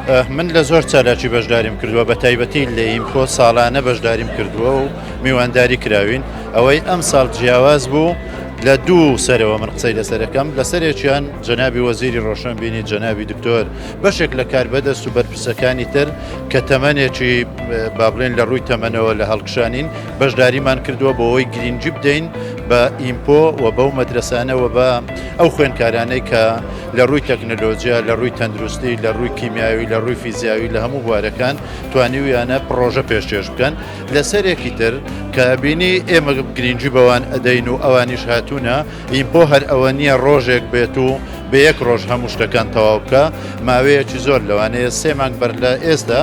من لە زۆر چالاکی بەشداریم کردووە بە تایبەتی لە ئیمکۆ ساڵانە بەشداریم کردووە و میوانداری کراوین ئەوەی ئەم ساڵ جیاواز بوو لە دوو سەرەوە من قسەی لەسەرەکەم لە سەرێکیان جەنابی وەزیری ڕۆشنبیری جەنابی دکتۆر بەشێک لە کار بەدەست و بەرپرسەکانی تر کە تەمەێکی بابلێن لە ڕووی تەمەنەوە لە هەڵکشانین بەشداریمان کردووە بۆ ئەوەی گرینگی بدەین بە ئیمپۆ و بەو مەدرسانەوە بە ئەو خوێنکارانەی کە لە ڕووی تەکنەلۆجییا لە ڕووی تەندروستی لە ڕووی کیمیاوی لە ڕووی فیزیاوی لە هەموو بوارەکان توانیویانە پڕۆژە پێشێش بکەن لە سەرێکی تر کە بینی ئێمە گرینگی بەوان ئەدەین و ئەوانیش هاتوونە ئیمپۆ هەر ئەوە نییە ڕۆژێک بێت و بە یەک ڕۆژ هەموو شتەکان تەواو بکە ماوەیەکی زۆر لەوانەیە سێ مانگ بەر لە ئێستا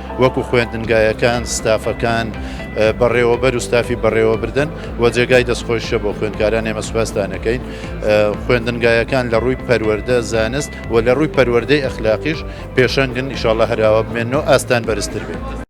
وەکو خوێندنگایەکان ستافەکان بەڕێوەبەر و ستافی بەڕێوەبردن و جێگای دەستخۆشە بۆ خوێندکاران ئێمە سوپاستانەکەین خوێندنگایەکان لە ڕووی پەروەەردە زانست و لە ڕووی پەروەەردەی ئەخلاقیش پێشەنگن ئیشاڵە هەراوە بمێنەوە ئاستان بەرزتر بێت.